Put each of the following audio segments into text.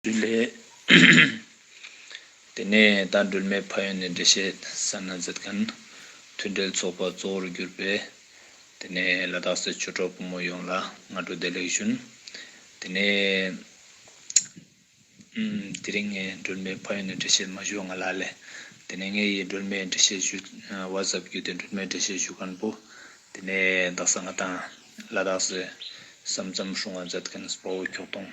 ལས། དེ་ནས་ད་སྒྲོལ་མའི་ཕ་ཡོན་ནས་འགྲེལ་བཤད་ས་ན་མཛད་གནས་མཐུན་འབྲེལ་ཚོགས་པ་གཙོ་བོར་གྱུར་པས། དེ་ནས་ལ་དྭགས་སའི་ཆོས་གྲོགས་ཕོ་མོ་ཡོངས་ལ་སྔ་དྲོ་བདེ་ལེགས་ཞུན། དེ་ནས། དེ་རིང་ངས་སྒྲོལ་མའི་ཕ་ཡོན་ནས་འགྲེལ་བཤད་མ་ཞུ་བ་ང་ལ་ཨ་ལས། དེ་ནས་ངས་ཡིས་སྒྲོལ་མའི་འགྲེལ་བཤད་ཞུ་བ་ཟབ་རྒྱུ་དེ་སྒྲོལ་མའི་འགྲེལ་བཤད་ཞུ་མཁན་པོ། དེ་ནས་དྭགས་ས་ང་དང་ལ་དྭགས་སའི་ས་མཚམས་སྲུང་བ་མཛད་མཁན་སྤོ་བོ་ཁྱོགས་སྟོང།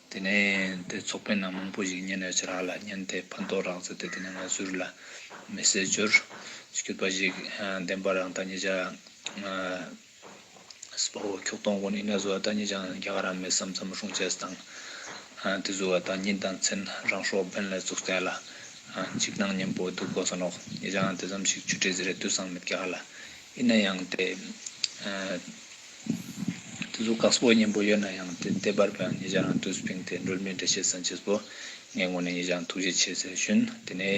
དེ་ནས་དེ་ཚོགས་པའི་ནང་མང་པོ་ཞིག་མཉན་ནས་ཇེ་རགས་ལ་མཉན་ཏེ་ཕན་ཐོགས་རག་མཛད་དེ་དེ་ནས་ང་ཚུར་ལ་མི་བསད་རྒྱུར་གྱུར་པ་ཞིག་བདེན་པ་རང་ད་ཉིད་ཅང་སྲིད་པའོ་ཁྱོགས་སྟོང་གོ་ནི་ན་བཟོ་བ་ད་ཉིད་ཅང་རྒྱ་གར་ར་མེད་སམ་ཚམ་རུང་བྱས་དང་དེ་བཟོ་བ་ད་ཉིད་དང་མཚན་རང་ཤོག་སྦེན་ལས་ཚུགས་བསྟན་ལ་འཇིགས་སྣང་ཉན་པོ་འདུག་གོ་ས་ནོག་ཉིད་ཅང་དེ་ཙམ་ཞིག་ཆུ་སྤྲེལ་ཟེར་རེ་ལྟོས་སང་མེད་རྒྱ་གར་ལ་ཨི་ན་ཡང་དེ། དུས་ཚོད་གགས་སྤོ་སྙན་པོ་ཡོད་ན་ཡང་དེ་ལྟེ་བར་པའང་ཉེ་ཆར་རང་བསྟོད་སྤིང་སྟེ་འགྲོལ་མེད་འགྲེལ་བཤད་གསན་བྱས་སོ། ངས་ངོ་ནས་ཉེ་ཆར་ཐུགས་རྗེ་ཆེ་ཟེར་ཞུན། དེ་ནས།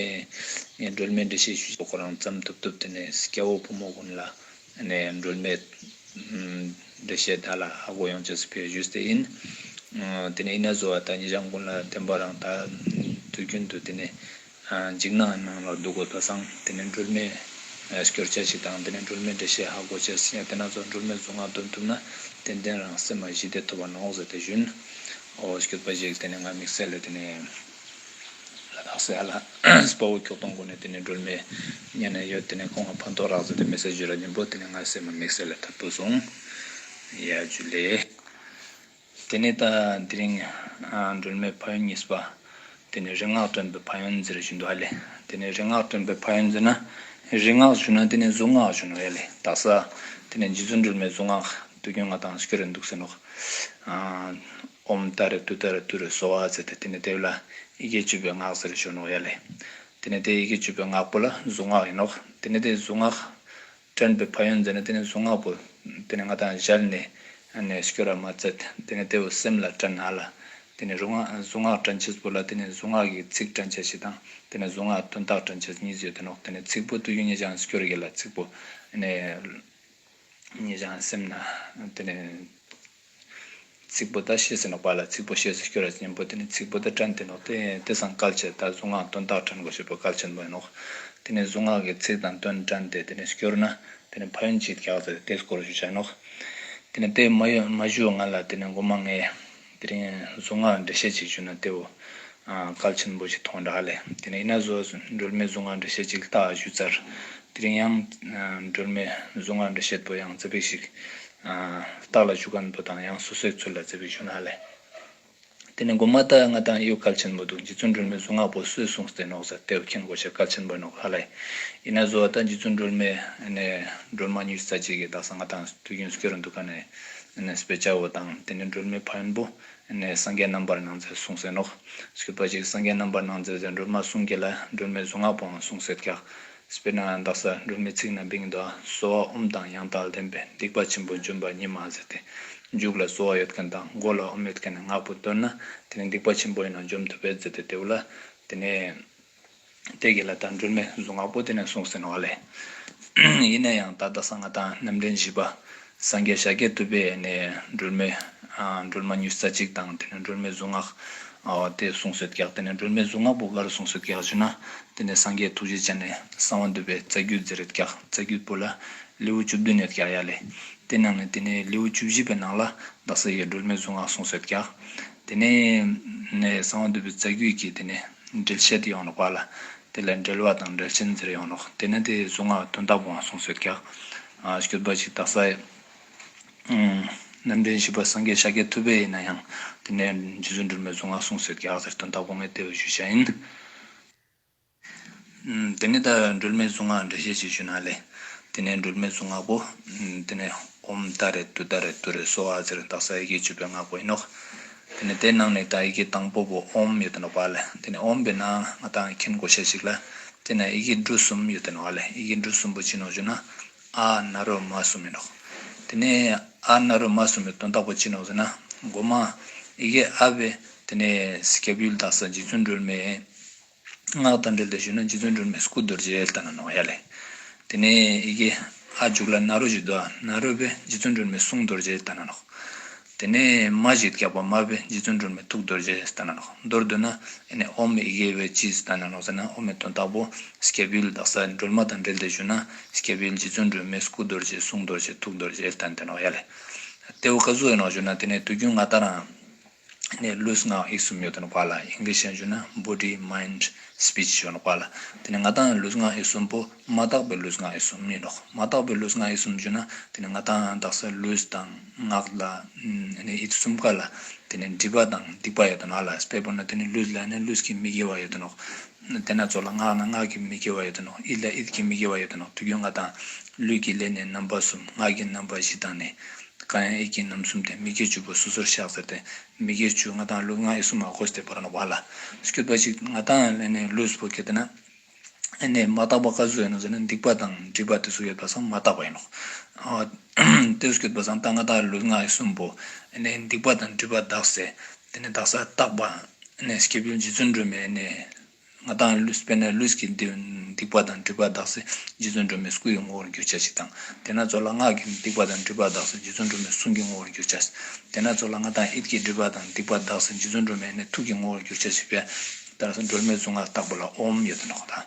ངས་འགྲོལ་མེད་འགྲེལ་བཤད་ཞུས་ཤོག་ཁོ་རང་བརྩམས་ཐུབ་ཐུབ་དེ་ནས་སྐྱ་བོ་བུ་མོ་ཀུན་ལ། ནས་འགྲོལ་མེད། འགྲེལ་བཤད་བདག་ལ་ཧ་གོ་ཡོང་བྱས་སུ་ཕེབས་ཞུས་ཏེ་ཡིན། དེ་ནས་ཨི་ན་བཟོ་བ་དང་ཉེ་ཆར་མགོན་ལ་བསྟན་པ་རང་དག་དུས་རྒྱུན་དུ་དེ་ནས། འཇིགས་སྣང་གི་ནང་ལ་འདུག་གོ་ད་བཟང་དེ་ནས་སྒྲོལ་མས་སྐྱོར་བྱ་ཞིག་དང་དེ་ནས་སྒྲོལ་མས་འགྲེལ་བཤད་ཧ་གོ་བྱས་ཟིན་ཡང་དེ་སྣ་ཚོགས་སྒྲོལ་མས་རྫུན་སྔགས་འདོན་ཐུབ་ན་ཏན་ཏན་རང་སེམས་མ་གཞི་བདེ་ཐོབ་པ་ནོག་ཟེར་དེ་བཞིན་ཨོ་སྐྱོར་པ་ཞིག་དེ་ནས་ང་མིག་སེར་ལས་དེ་ནས་ལ་དྭགས་སེ་ཧ་ལ་སྤ་བོ་ཁྱོག་སྟོང་གོ་ནས་དེ་ནས་སྒྲོལ་མས་གཉའ་ནས་ཡོད་དེ་ནས་ཁོང་ང་ཕོ་མདོག་རག་ཟེར་དེ་མི་སེར་བཞི་ར་ཉིན་པོ་དེ་ནས་ང་སེར་མ་མིག་སེར་ལས་ཐར་བུ་སོང་ཡ་རྒྱུ་ལས། དེ་ནས་ད་དེ་རིང་སྒྲོལ་མའི་ཕ་ཡུལ་གཉིས་པ། དེ་ནས་རིག་སྔགས་སྟོན་པའི་ཕ་ཡུལ་འཛི་རུ་ཞུ་འདོད་ཨ་ལས། དེ་ནས་རིག་སྔགས་སྟོན་པའི་ཕ་ཡུལ་འཛི་ན། རིག་སྔགས་ཞུ་ན་དེ་ནས་གཟུངས་སྔགས་ཞུ་འདོད་ཨེ་ལས་ད་ས། དེ་ནས་རྗེ་བཙུན་སྒྲོལ་མའི་གཟུངས་སྔགས་དུས་ཀྱང་ང་དང་ཤི་རེ་འདུག་ཟེར་ནོ། ཨོམ་བཏགས་རེ་བཏུ་བཏགས་རེ་བཏུ་རེ་གསོལ་བ་བསྩལ་ཏེ་དེ་ནས་དེ་བས་ལ་ཡི་གེ་བཅུ་པའི་སྔགས་ཟེར་རེ་ཞུ་འདོད་ཨེ་ལས། དེ་ནས་དེ་ཡི་གེ་བཅུ་པའི་སྔགས་པོ་ལ་གཟུངས་སྔགས་ཡིན་ནོ། དེ་ནས་དེ་གཟུངས་སྔགས་དྲན་པའི་ཕ་ཡོན་མཛད་ནས་དེ་ནས་གཟུངས་སྔགས་པོ། དེ་ནས་སྔགས་དང་སྦྱར་ནས། བསྐྱོད་ར་མ་བཙལ། དེ་ནས་ལྟེ་བའི་སེམས་ལ་དྲན་ནཱ་ལ། དེ་ནས་རུ་སྔགས་གཟུངས་སྔགས་དྲན་བྱེད་པོ་ལ་དེ་ནས་གཟུངས་སྔགས་ཀྱི་ཚིག་དྲན་བྱེད་ཞེས་དང། དེ་ནས་གཟུངས་སྔགས་དོན་རྟགས་དྲན་བྱེད་གཉིས་བརྗོད་དེ་ནོག་དེ་ནས་ཚིག་པོ་ཏུ་གཡོན་ཉེ་བྱང་བསྐྱོད་ར་གྱི་ལ་ཚིག་པོ། ནས། ཉེ་བྱང་སེམས་ནཱ། དེ་ནས། ཚིག་པོ་ད་ཤེས་ཟེར་ནོ་བ་ལ་ཚིག་པོ་ཤེས་སུ་སྐྱོ་ར་ཅན་པོ་དེ་ནི་ཚིག་པོ་ད་དྲན་དེ་ནོ་དེ་དེ་སང་སྐལ་ཆད་ད་གཟུངས་སྔགས་དོན་རྟགས་དྲན་དགོས་ཞེས་པོ་སྐལ་ཆེན་པོ་ཡིན་ནོ། དེ་ནི་གཟུངས་སྔགས་ཀྱི་ཚིག་དང་དོན་དྲན་ཏེ་དེ་ནི་སྐྱོ་ར་ན་དེ་ནི་ཕ་ཡུལ་གྱིས་བཀྱག་ཟེར་ཏེ་དེས་སྐོར་ཞུ་བྱ་ནོ། དེ་ནི་དེས་མ་ཞུས་ང་ལ་དེ་ནི་མགོ་མ་ངས་དེ་རིང་གཟུངས་སྔགས་འགྲེལ་བཤད་ཅིག་ཞུས་ན་དེ་བོ། སྐལ་ཆེན་པོ་ཞིག་མཐོང་གྲགས་ལས། དེ་ནས་ཡིན་ན་བཟོ། སྒྲོལ་མའི་གཟུངས་སྔགས་འབྲི་བཤད་ཅིག་བལྟ་བཞུ་ཙར། དེ་རིང་ཡང། སྒྲོལ་མའི་གཟུངས་སྔགས་འབྲི་བཤད་པོ་ཡང་བརྩེ་བས་ཤིག། བརྟག་ལ་བཞུ་གནས་པོ་དང་ཡང་སོ་སོའི་ཚུལ་ལ་བརྩེ་བས་བཞུ་གནང་ལས། དེ་ནས་སྒོ་མ་ལྟ་ང་དང་གཡོ་སྐལ་ཆེན་པོ་འདུག་རྗེ་བཙུན་སྒྲོལ་མའི་གཟུངས་སྔགས་པོ་གསོལ་གསུངས་སྟེ་ནོག་ཟེར་ལྟེ་བ་ཁེངས་སྒོ་ཕྱེ་སྐལ་ཆེན་པོ་ནོག་ལྷ་ལས། ཡིན་ན་བཟོ་ད་རྗེ་བཙུན་སྒྲོལ་མས། སྒྲོལ་མ་ཉུལ་ཙར་ཅིག་གིས་བདག་ས་ང་དང་དུས་རྒྱུན་སྐྱོ་རུ་འདུག་ག་ནས། སྤེ་བྱའོ་དང་དེ་ནས་སྒྲོལ་མའི་ཕ་ཡོན་པོ། ནས་སངས་རྒྱས་རྣམ་པར་སྣང་མཛད་གསུང་ཟིན་ནོ། ཞེས་པ་གཅིག་སངས་རྒྱས་རྣམ་པར་སྣང་མཛད་ཟེར་སྒྲོལ་མ་གསུང་གྱིས་ལ་སྒྲོལ་མའི་གཟུངས་སྔགས་པའང་གསུང་ཟེར་ཀྱང། སྤེལ་ན་འདག་ས་སྒྲོལ་མའི་ཚིག་རྣམས་བིང་མདོ་གསོལ་བ་དབུམ་དང་ཡང་དག་ལྡན་པས་སྡིག་པ་ཆེན་པོ་འཇོམས་པ་ཉིད་མ་ཟད་དེ། མཇུག་ལ་གསོལ་བ་ཡོད་མཁན་དང་མགོ་ལ་དབུམ་ཡོད་མཁན་ནས་ངག་པོ་བཏོན་ན་དེ་ནི་སྡིག་པ་ཆེན་པོ་ཡིན་ནོ་འཇོམས་ཐུབ་པས་མཛད་དེ་དེའུ་ལ་དེ་ནས། དེ་གི་ལ་དྭགས་འགྲུལ་མེད་གཟུངས་སྔགས་པོ་ཏི་ནས་གསུངས་ཟིན་བ་ལས། ཡིན་ན་ཡང་ད་ལྟ་གསང་སྔགས་དང་རྣམ་འདྲེན་བཞི་པ། སངས་རྒྱས་ཤཱཀྱའི་བསྟོད་པས་ནི་འགྲུལ་མེད། འགྲུལ་མ་ཉུས་ས་གཅིག་དང་དེ་ནས་འགྲུལ་མེད་གཟུངས་སྔགས། དེ་གསུངས་སོད་གེགས་དེ་ནས་འགྲུལ་མེད་གཟུངས་སྔགས་པོ་དགའ་རུ་གསུངས་སོད་གེགས་བཞི་ན། དེ་ནས་སངས་རྒྱས་ཐུགས་རྗེ་ཅན་ནས་གསང་བ་འདུས་པའི་རྩ་རྒྱུད་རྫི་རིལ་གེགས་རྩ་རྒྱུད་པོ་ལ། ལེའུ་བཅུ་བདུན་ནས་གེགས་ཡྃ་ལས། དེ་ནང་ནས་དེ་ནས་ལེའུ་བཅུ་བཞི་པའི་ནང་ལ་བདག་སངས་རྒྱས་འགྲུལ་མེད་གཟུངས་སྔགས་གསུངས་སོད་གེགས། དེ་ནས་གསང་བ་འདུས་པའི་རྩ་རྒྱུད་ཀྱི་དེ་ནས་འགྲེལ་བཤད་དེ་ཡོངས་ལ་བཀག་ལ། དེ་ལ་འགྲེལ་བ་དང་འགྲེལ་བྱེད་འཛེར་ཡོང་རོགས། དེ་ནས་དེ་གཟུངས་སྔགས་བདུན་བཏགས་པའང་གསུངས་སོ་ཀྱག། སྐྱོད་པ་ཅིག་བཏགས་ས་ཡི། རྣམ་འདྲེན་བཞི་པ་སངས་རྒྱས་ཤཱ་ཀྱའི་ཐུ་བས་ཡིན་ན་ཡང། དེ་ནས་རྗེ་བཙུན་སྒྲོལ་མའི་གཟུངས་སྔགས་གསུངས་སོ་ཀྱག་ཟེར་དོན་དག་པོ་ངས་བལྟས་པའི་གཞུད་བྱ་ཡིན། དེ་ནས་ད་སྦྲུལ་མའི་གཟུངས་སྔགས་འགྲེལ་བཤད་ཅིག་ཞུ་ན་ལེགས། དེ་ནས་སྦྲུལ་མའི་གཟུངས་སྔགས་པོ། དེ་ནས་ཧཱུྃ་ཏཱ་རེ་ཏུ་ཏཱ་རེ་ཏུ་རེ་སོ་ཨཱ་ཙི་རེ་ཏཱ་ས་ཡི་གེ་བཅུ་པའི་སྔགས་པོ་ཨི་ནོག། དེ་ནས་དེ་ནང་ནས་ད་ཡི་གེ་དང་པོ་པོ་ཨོམ་ཡོད་དེ་ནོག་པཱ་ལེ། དེ་ནས་ཨོམ་པའི་ནང་ང་ད་མཁན་གོ་ཤ་ཅིག་ལ། དེ་ནས་ཡི་གེ་འབྲུ་གསུམ་ཡོད་དེ་ནོག་ཨ་ལེ་ཡི་གེ་འབྲུ་གསུམ་པོ་ཅི་ནོག་ཅུ་ན། ཨ་ན་རོ་མ་གསུམ་ཨི་ནོག། དེ་ནས་ཨ་ན་རོ་མ་གསུམ་པའི་དོན་རྟགས་པོ་ཅི་ནོག་ཅུ་ན། སྒོ་མ། ཡི་གེ་ཨ་བྷེ། དེ་ནས་སྐྱབས་ཡུལ་དག་ས་རྗེ་བཙུན་སྦྲུལ་མའི། སྔགས་དང་འབྲེལ་ཏེ་ཞུ་ན་རྗེ་བཙུན་སྒྲོལ་མའི་སྐུ་རྡོ་རྗེའི་ལྟ་ན་ནོངས་ཡ་ལས། དེ་ནས་ཡི་གེ་ཨ་འཇུག་ལ་ནཱ་རོ་བཞི་བཟློག། ནཱ་རོ་པས་རྗེ་བཙུན་སྒྲོལ་མའི་གསུང་རྡོ་རྗེའི་ལྟ་ན་ནོག། དེ་ནས་མ་བཞི་བཀྱག་པ་མ་པས་རྗེ་བཙུན་སྒྲོལ་མའི་ཐུགས་རྡོ་རྗེའི་ལྟ་ན་ནོག། མདོར་བསྡུ་ན། ཨེ་ནས་ཨོམ་ཡི་གེ་བས་ཅི་ལྟ་ན་ནོག་ཟེར་ན་ཨོམ་མའི་དོན་རྟགས་པོ། སྐྱེས་བུའི་བདག་ས་སྒྲོལ་མ་དང་འབྲེལ་ཏེ་ཞུ་ན། སྐྱེས་བུའི་རྗེ་བཙུན་སྒྲོལ་མའི་སྐུ་རྡོ་རྗེ་གསུང་རྡོ་རྗེ་ཐུགས་རྡོ་རྗེའི་ལྟ་ན་ནོག་ཡ་ལས། ཏེའུ་ཀ་ཟུ་ཨེ་ནོག་ཞུ་ན་དེ་ནས་དུས་རྒྱུན་ང་ལྟར་རང། ནས་ལུས་ངག་ཡིད་གསུམ་ཡོད་དོ་ལ་ཡིག་འགལ་བཤད་འཇུག་ན body mind speech ཡོད་དོ་ལ་དེ་ནས་ང་དང་ལུས་ངག་ཡིད་གསུམ་པོ་མ་དག་པའི་ལུས་ངག་ཡིད་གསུམ་ཡིན་ནོ་མ་དག་པའི་ལུས་ངག་ཡིད་གསུམ་བརྗོད་ན་དེ་ནས་ང་དང་དག་ས་ལུས་དང་ངག་ལ་ཡིད་གསུམ་ག་ལ་དེ་ནས་སྒྲིབ་པ་དང་སྡིག་པ་ཡོད་དོ་ལ་སྤེལ་པོ་ན་དེ་ནས་ལུས་ལ་ནས་ལུས་ཀྱི་མི་དགེ་བ་ཡོད་དོ་དེ་ན་གཙོ་ལ་སྔགས་ན་སྔགས་ཀྱི་མི་དགེ་བ་ཡོད་དོ་ནོ་ཨིད་ལ་ཨིད་ཀྱི་མི་དགེ་བ་ཡོད་དོ་ནོ་དུ་རྒྱུ་ལྔ་དང། ལུས་ཀྱི་ལས་ནི་རྣམ་པ་གསུམ་ངག་གི་རྣམ་པ་བཞི་དང་ནི། ཀྵ་ཡང་ཨིད་ཀྱི་རྣམ་གསུམ་སྟེ་མི་དགེ་བཅུ་པོ་སོ་སོར་བཤགས་ཟེར་ཏེ། མི་དགེ་བཅུ་ལྔ་དང་ལུས་ལྔ་ཨི་སུ་མ་ཧོ་སྟེ་བར་ན་བ་ལ། སྐྱོད་པ་ཅིག་ང་དང་ལྷན་ནི་ལུས་སུ་བོ་དགེ་དེ་ན། ཨེ་ནས་མ་བརྟགས་པ་ག་སུ་ཡོད་ནོ་ཟེར་ན་སྡིག་པ་དང་སྒྲིབ་པ་དེ་སུ་ཡོད་པ་སང་མ་བརྟགས་པ་ཡིན་ནོ། དེས་སྐྱོད་པ་སང་བརྟགས་ང་དང་ལུས་ལྔ་ཨི་སུམ་བོ། ཨེ་ནས་སྡིག་པ་དང་སྒྲིབ་པ་བརྟགས། དེ་ནས་བདག་སར་བཏགས་པ། སྐྱེས་བུ་རྗེ་བཙུན་སྒྲོལ་མས། ང་དང་ལུས་སྤེལ་ན་ལུས་ཀྱི་སྡིག་པ་དང་སྒྲིབ་པ་འདག་སྲིད་རྗེ་བཙུན་སྒྲོལ་མའི་སྐུ་ཡི་ངོ་བོར་འགྱུར་བྱ་ཞིག་དང། དེས་ན་གཙོ་ལ་སྔགས་ཀྱི་སྡིག་པ་དང་སྒྲིབ་པ་འདག་སྲིད་རྗེ་བཙུན་སྒྲོལ་མའི་གསུང་གི་ངོ་བོར་འགྱུར་བྱ་ཞིག། དེས་ན་གཙོ་ལ་ངག་དང་ཨིད་ཀྱི་སྒྲིབ་པ་དང་སྡིག་པ་འདག་སྲིད་རྗེ་བཙུན་སྒྲོལ་མའི་ཐུགས་ཀྱི་ངོ་བོར་འགྱུར་བྱ་ཞིག་པའི། བདག་སར་སྒྲོལ་མའི་གཟུངས་སྔགས་བཏགས་པ་ལ་ཨོམ་ཡོད་དོ་ནི་ཧོ་དང།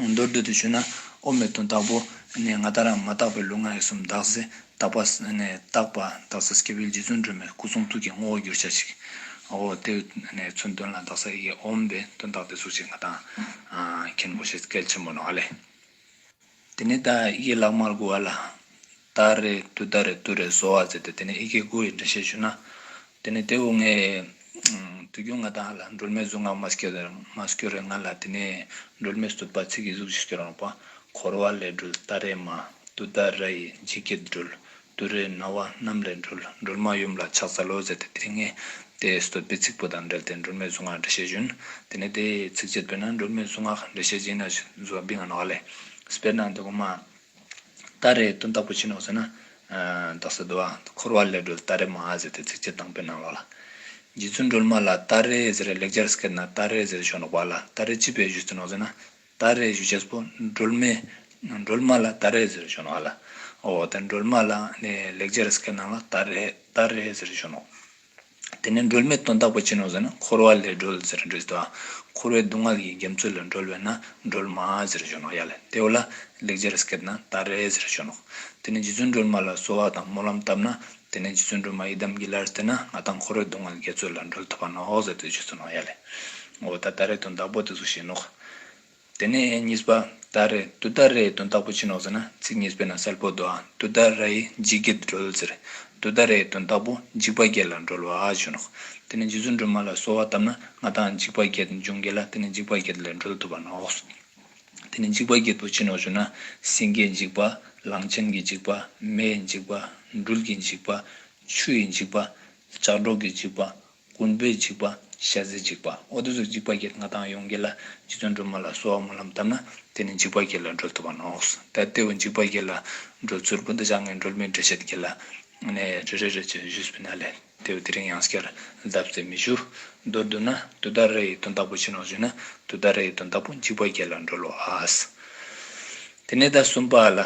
མདོར་བསྡུས་ཏེ་ཞུས་ན། ཨོ་མི་དང་བདག་པོ། ནས་ང་ད་རང་མ་བརྟགས་པའི་ལུས་ངག་ཡིད་གསུམ་བདག། ཟས་བདག། པ་ནས་བརྟགས། པ་བདག། ས་སྐྱེ་བོའི་རྗེ་བཙུན་སྒྲོལ་མའི་སྐུ་གསུང་ཐུགས་ཀྱི་དངོས་བོ་རྒྱུར་བྱ་ཞིག། ཨོ། དེ་ནས་མཚོན་དོན་ལ་བདག་ས་ཡི་ཨོམ་པས་དོན་བརྟགས་ཏེ་གཟུགས་ཅན་ང་དང། མཁན་པོ་ཞེས་སྐད་ཆེན་པོ་ནོ་ཨ་ལས། དེ་ནས་ད་ཡི་ལག་དམར་དགུ་བ་ལ། ད་རེ་དུ་ད་རེ་དུ་རེ་བཟོ་བར་མཛད་དེ་དེ་ནས་ཨི་ཀའི་དགུ་ཡི་འགྲེལ་བཤད་ཞུས་ན། དེ་ནས་དེ་འོ་ངས། དུས་རྒྱུན་ང་དང་ལ་སྒྲོལ་མའི་གཟུགས་ངག་མ་སྐྱོ་རེ་མ་སྐྱོ་རེ་ང་ལ་དེ་ནས་སྒྲོལ་མའི་གཟུགས་པ་ཚིག་གི་གཟུགས་ཤིག་སྐྱོ་རང་པ། འཁོར་བ་ལས་སྒྲོལ་ད་རེ་མ་དུ་ད་ར་ཡི་འཇིགས་ཀྱི་སྒྲོལ་དུ་རའི་རྣ་བ་གནམ་ལས་འགྲོལ། འགྲོལ་མ་ཡུམ་ལ་ཕྱག་འཚལ་ལོ་ཟེར་ཏེ་དེའི་ངེས། དེའི་སྲིད་དུ་དཔེ་ཚིག་པོ་དང་འབྲེལ་ཏེ་འགྲོལ་མའི་གཟུངས་སྔགས་འགྲེལ་བཤད་བཞིན། དེ་ནས་དེའི་ཚིགས་བཅད་བཏོན་ན་འགྲོལ་མའི་གཟུངས་སྔགས་འགྲེལ་བཤད་སྦྱིན་ན་བཟོད་པ་འབིགས་ང་ནོག་ཨ་ལས། སྤེར་ནང་དུ་གོང་མ། ཏཱ་རེ་ཏུན་བདག་པོ་བྱིན་ནོ་ཟེར་ན། བདག་སྲིད་དུ། འཁོར་བ་ལས་སྒྲོལ་ཏཱ་རེ་མ་ཨ་ཟེར་ཏེ་ཚིགས་བཅད་དང་པོའི་ནང་ལོགས་ལ། རྗེ་བཙུན་སྒྲོལ་མ་ལ་ཏཱ་རེ་ཟེར་ལེགས་སྦྱར་སྐད་ན་ཏཱ་རེ་ཟེར་ཞོག་ནོག་པ་ཨ་ལ་ཏཱ་རེ་ཅི་བས་བཞུད་ཟིན་ནོ་ཟེར་ན། ད་རེས་བཞུ་བྱེད་པོ་སྒྲོལ་མས་སྒྲོལ་མ་ལ་ད་རེས་ཟེར་བྱུང་ལ། འོ་དེ་སྒྲོལ་མ་ལ་ནི་ལེགས་སྦྱར་སྐད་ནང་ལ་ད་རེས་ད་རེས་ཟེར་བྱུང་ནོ། དེ་ནས་སྒྲོལ་མའི་དོན་དག་པོ་ཅི་ནོ་ཟེར་ན་འཁོར་བ་ལས་སྒྲོལ་ཟེར་འབྲི་སྟེ་བ། འཁོར་བའི་སྡུག་བསྔལ་གྱི་རྒྱ་མཚོ་ལས་སྒྲོལ་བས་ན་སྒྲོལ་མ་ཟེར་བྱུང་ནོ་ཡ་ལེ་དེའོ་ལ་ལེགས་སྦྱར་སྐད་ན་ད་རེས་ཟེར་བྱུང་ནོ། དེ་ནས་རྗེ་བཙུན་སྒྲོལ་མ་ལ་གསོལ་བ་དང་སྨོན་ལམ་བཏབ་ན་དེ་ནས་རྗེ་བཙུན་སྒྲོལ་མ་ཡི་དམ་གྱི་ལར་བསྟོད་ན་ང་དང་འཁོར་བའི་སྡུག་བསྔལ་འགལ་རྩོད་ལ་འགྲོལ་ཐུབ་པ་ནོ་ཟེར་ཏེ་རྗེ་བཙུན་རོང་ཡ་ལས། ངོ་བོ་ད་ལྟར་རེ་དོན་བདག་པོ་དེ་སུ་ཞེས་ནོག། དེ་ནས་གཉིས་པ། ད་རེ་དུ་ལྟར་རེའི་དོན་བདག་པོ་ཅི་ནོག་ཟེར་ན་ཚིག་གཉིས་པས་ན་གསལ་པོ་བདོ་ཨ་དུ་ལྟར་ར་ཡི་འཇིགས་བརྒྱད་དུ་འགྲོལ་ཟེར། དུ་ལྟར་རེའི་དོན་བདག་པོ་འཇིགས་པ་བརྒྱད་ལ་འགྲོལ་བ་ཨ་ཞེས་ནོག། དེ་ནས་རྗེ་བཙུན་སྒྲོལ་མ་ལ་གསོལ་བ་བཏབ་ན་ང་དང་འཇིགས་པ་བརྒྱད་འབྱུང་འགལ་ལ་དེ་ནི་འཇིགས་པ་བརྒྱད་ལས་འགྲོལ་ཐུབ་པ་ནོག། དེ་ནི་འཇིགས་པ་བརྒྱད་དུ་བྱིན་ནོ་ཞུ་ན། སེང་གེའི་འཇིགས་པ། གླང་ཆེན་གྱི་འཇིགས་པ། མེའི་འཇིགས་པ། འབྲུལ་གྱི་འཇིགས་པ། ཆུ་ཡི་འཇིགས་པ། ལྕགས་སྒྲོག་གི་འཇིགས་པ། རྐུན་པོའི་འཇིགས་པ། ཤ་ཟའི་འཇིགས་པ། འོ་དེ་ཚོ་འཇིགས་པ་བརྒྱད་ང་དང་ཡོངས་དགེ་ལ་རྗེ་བཙུན་སྒྲོལ་མ་ལ་གསོལ་བ་སྨོན་ལམ་བཏབ་ན་དེ་ནི་འཇིགས་པ་བརྒྱད་ལ་སྒྲོལ་ཐུབ་པ་ནོ། ད་ལྟེ་བའི་འཇིགས་པ་བརྒྱད་ལ་སྒྲོལ་ཚུལ་སྤུན་ཟླ་བྱ་ངའི་སྒྲོལ་མའི་འགྲེལ་བཤད་ཀྱི་ལ་ནས་རེ་རེ་རེ་བྱས་བཞུགས་སུ་ཕུལ་ན་ལེགས། དེ་བས་དེ་རིང་ཡང་སྐྱར་གདབ་ཚེ་མི་འགྱུར། མདོར་བསྡུ་ན་དུ་ད་ར་ཡི་དོན་བདག་པོ་ཕྱིན་ནོ་ཞེ་ན་དུ་ད་ར་ཡི་དོན་བདག་པོ་འཇིགས་པ་བརྒྱད་ལ་འགྲོ་ལོ་ཨཱས། དེ་ནས་ཟླ་གསུམ་པ་ལ།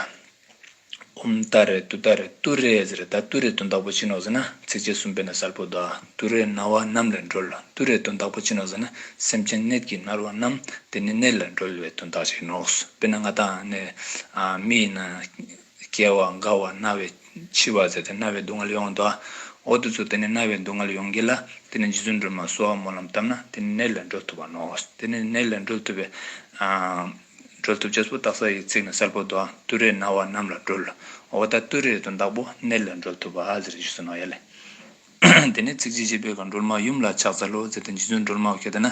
འུམ་ད་རེ་དུ་ད་རེ་ཏུ་རེ་ཟེར་རེ་ད་ཏུ་རེ་དོན་བདག་པོ་ཕྱིན་ནོ་ཟེར་ན་ཚིགས་བཅད་གསུམ་པས་ན་གསལ་པོ་དག་ཏུ་རེ་རྣ་བ་རྣམས་ལས་འགྲོལ་ཏུ་རེ་དོན་བདག་པོ་ཕྱིན་ནོ་ཟེར་ན་སེམས་ཅན་གནད་ཀྱི་རྣར་བ་རྣམས་དེ་ནི་གནད་ལས་འགྲོལ་བའི་དོན་དག་ཅིག་ཡིན་ནོ། དཔེར་ན་ང་དང་ནི་མི་ཡིན་ན། སྐྱེ་བ་འགག་བ་རྣ་བའི་འཆི་བ་ཟད་དེ་རྣ་བའི་སྡུག་བསྔལ་ཡོང་བ་འདུག་ཨ། འོ་དུ་ཚོད་དེ་ནས་རྣ་བའི་སྡུག་བསྔལ་ཡོང་གི་ལ་དེ་ནས་རྗེ་བཙུན་སྒྲོལ་མ་གསོལ་བ་སྨོན་ལམ་བཏབ་ན་དེ་ནས་ནད་ལས་འགྲོལ་ཐུབ་པ་ནོ། དེ་ནས་ནད་ལས་འགྲོལ་ཐུབ་པའི། འགྲོལ་ཐུབ་བྱེད་སྤུ་དག་ས་ཡི་ཚིགས་ནས་སར་པོ་དོ། ཏུ་རེ་ན་བ་རྣམས་ལ་འགྲོལ། འོ་ད་ཏུ་རེ་དོ་བདག་པོ་ནད་ལས་འགྲོལ་ཐུབ་པ་ཟེར་གྱིས་སུ་ནོ་ཡ་ལས། དེ་ནས་ཚིགས་བཅད་བཅད་པས་གང་སྒྲོལ་མ་ཡུམ་ལ་ཕྱག་འཚལ་ལོ་ཟེར་ཏེ་རྗེ་བཙུན་སྒྲོལ་མ་བ་གད་ན།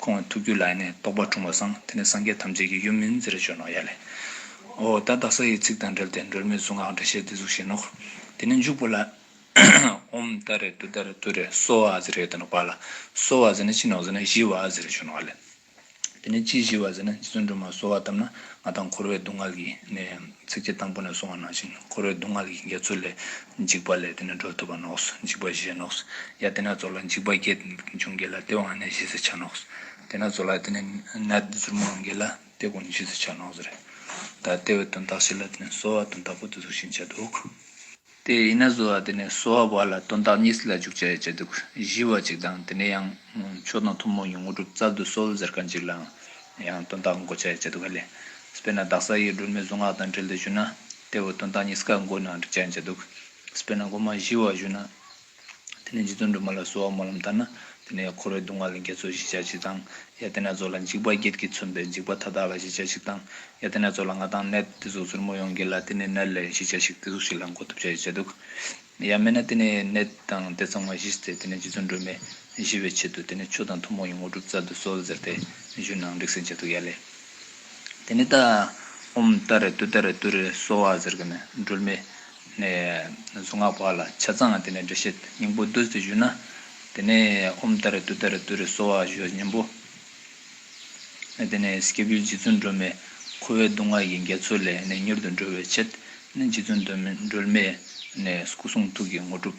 ཁོང་གི་ཐུགས་རྒྱུད་ལ་ཡེ་ནས་རྟོགས་པ་འཁྲུངས་པར་བསམ། དེ་ནས་སངས་རྒྱས་ཐམས་ཅད་ཀྱི་ཡུམ་མིན་ཟེར་ཞོར་ནོ་ཡ་ལས། འོ་ད་བདག་ས་ཡི་ཚིག་དང་འབྲེལ་ཏེ་སྒྲོལ་མའི་གཟུངས་སྔགས་འགྲེལ་བཤད་འདི་གཟུགས་བཞིན་ནོ། དེ་ནས་འཇུག་པ་ལ། ཧོམ་ད་རེ་ཏུ་ད་རེ་ཏུ་རེ་གསོལ་བ་ཟེར་ཡོད་དོ་ནོ་བ་ལ། གསོལ་བ་ཟེར་ནས་ཅི་ནོ་ཟེར་ན་བཞི་བ་ཟེར་ཞོར་ནོ་བ་ལས། དེ་ནས་ཅི་བཞི་བ་ཟེར་ན་རྗེ་བཙུན་སྒྲོལ་མ་གསོལ་བ་བཏབ་ན་ང་དང་འཁོར་བའི་སྡུག་བསྔལ་གྱིས་ནི། ཚིགས་བཅད་དང་པོ་ནས་གསུང་བ་ནང་བཞིན་འཁོར་བའི་སྡུག་བསྔལ་གྱི་འགལ་ཚུལ་ལས། འཇིགས་པ་ལས་དེ་ནས་སྒྲོལ་ཐུབ་པ་ནོགས། འཇིགས་པ་བཞེས་ནོགས། ཡང་དེ་ནས་གཙོ་ལ་འཇིགས་པ་བརྒྱད་འབྱུང་འགལ་ལ་དེ་འོག་ནས་བཞེས་སུ་བྱ་ནོགས། དེ་ནས་གཙོ་ལ་དེ་ནས་ནད་གཟུར་མོ་འོང་འགལ་ལ་དེ་གོང་ནས་བཞེས་སུ་བྱ་ནོགས། ཟེར། ད་ལྟའི་བའི་དོན་དག་བཤད་ལ་དེ་ནས་གསོལ་བ་དོན་དག་པོ་དེ་ཚུལ་བཞིན་བྱ་འདུག། དེ་ཡིན་ན་བཟོ་བ་དེ་ནས་གསོ་བ་བར་ལ་དོན་དག་གཉིས་སུ་ལ་འཇུག་བྱ་ཡི་བྱ་སྡུག་བཞི་བ་གཅིག་དང་དེ་ནས་ཡང་མཆོག་དང་ཐུན་མོང་གི་དངོས་གྲུབ་རྩ་བདུད་གསོལ་ཟེར་ཀ་འཇིག་ལའང་ཡང་དོན་དག་འགོ་བྱ་ཡི་བྱ་སྡུག་ག་ལས། དཔེར་ན་བདག་ས་ཡིས་སྒྲོལ་མའི་གཟུངས་སྔགས་དང་འབྲེལ་དུ་བཞུགས་ན་དེ་བས་དོན་དག་གཉིས་སུ་ཀ་འགོ་ནའང་འགྲིག་བྱ་ཡི་བྱ་སྡུག། དཔེར་ན་སྒོ་མ་བཞི་བ་བཞུགས་ན་དེ་ནས་རྗེ་བཙུན་སྒྲོལ་མ་ལ་གསོལ་བ་སྨོན་ལམ་བཏབ་ན། དེ་ནས་འཁོར་བའི་སྡུག་བསྔལ་ལ་འགལ་ཚུལ་གཞི་ཆགས་ཤིག་དང། ཡང་དེ་ནས་ཚོགས་ལ་འཇིགས་པ་བརྒྱད་ཀྱིས་མཚོན་པའི་འཇིགས་པ་མཐའ་དག་ལ་གཞི་ཆགས་ཤིག་དང། ཡང་དེ་ནས་ཚོགས་ལ་ང་དང་ནད་དེ་ཚོ་ཚུར་མོ་ཡོང་གི་ལ་དེ་ནས་ནད་ལས་གཞི་ཆགས་ཤིག་དེ་ཚོ་ཞིག་ལ་འགོག་ཐབས་བྱ་ཞེས་བྱ་འདུག། ཡང་མེད་ན་དེ་ནས་ནད་དང་དེ་ཚང་མ་གཞི་སྟེ་དེ་ནས་རྗེ་བཙུན་སྒྲོལ་མས་གཞི་བའི་ཆེད་དུ་དེ་ནས་ཆུ་དང་ཐུན་མོང་གི་དངོས་གྲུབ་རྩལ་དུ་གསོལ་ཟེར་ཏེ་གཞུད་ནའང་རིགས་སེང་བྱ་འདུག་ཡ་ལེ། དེ་ནས་ཏཱྃ། ཨོྃ་ཏཱ་རེ་ཏུ་ཏཱ་རེ་ཏུ་རེ་གསོལ་བ་ཟེར་གི་ནས་སྒྲོལ་མས་ནས། གཟུངས་སྔགས་བར་ལ་ཆ་ཚང་དེ་ནས་འབྲེལ་བཤད་སྙིང་པོ་བདུད་རྩི་བཞུ་ན། དེ་ནས་ཨོམ་བདའ་རེ་བཏུད་བདའ་རེ་བཏུད་རེ་གསོལ་བ་བཞུ་སྙིང་པོ། ནས་དེ་ནས་སྐྱེས་བུའི་རྗེ་བཙུན་སྒྲོལ་མས་ཁོ་བོའི་སྡུག་བསྔལ་གྱི་འགལ་ཚུལ་ལས་ནས་མྱུར་དུ་འགྲོལ་བའི་ཆེད། ནས་རྗེ་བཙུན་སྒྲོལ་མས། ནས་སྐུ་གསུང་ཐུགས་ཀྱི་དངོས་གྲུབ།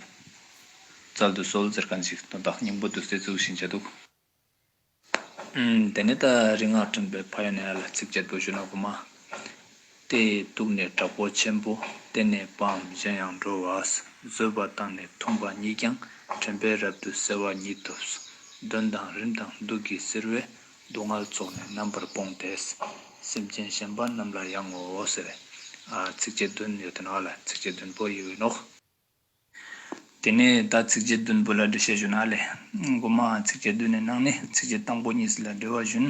རྩལ་དུ་གསོལ། ཟེར་ག་འཇིག་རྟོག་བདག་སྙིང་པོ་བདུད་རྩི་བཙུགས་ཤིང་བཅད་གཏུགས། དེ་ནས་ད་རིག་སྔགས་ཕྲེང་བའི་བྷ་ཡ་ནས་ཨ་ལ་ཚིགས་བཅད་བདུད་བཞི་ནག་པོ་མ། དེ་ཡི་གདུགས་ནི་དྲག་པོ་ཆེན་པོ་དེ་ནས་པའམ་གཞན་ཡང་འགྲོ་བ་བཟོད་པ་དང་ནི་འཐུངས་པ་ཉིད་ཀྱང་དྲན་པས་རབ་ཏུ་གསལ་བ་ཉིད་དུ་གདོན་དང་རིམས་དང་བདུད་ཀྱི་གསེར་བས་སྡུག་བསྔལ་ཚོགས་ནི་རྣམ་པར་སྤོང་སྟེ། སེམས་ཅན་གཞན་པ་རྣམས་ལ་ཡང་ངོ། ཚིགས་བཅད་བདུན་ཡོད་དོ་ཨ་ལ་ཚིགས་བཅད་བདུན་པོ་ཡོད་ནོ། དེ་ནས་ད་ཚིགས་བཅད་བདུན་པོ་ལ་འགྲེལ་བཤད་ཞུ་ན་ལས། སྒོ་མ་ཚིགས་བཅད་བདུན་ནས་གནང་ནས་ཚིགས་བཅད་དང་པོ་གཉིས་ལ་འགྲེལ་བ་ཞུ་ན།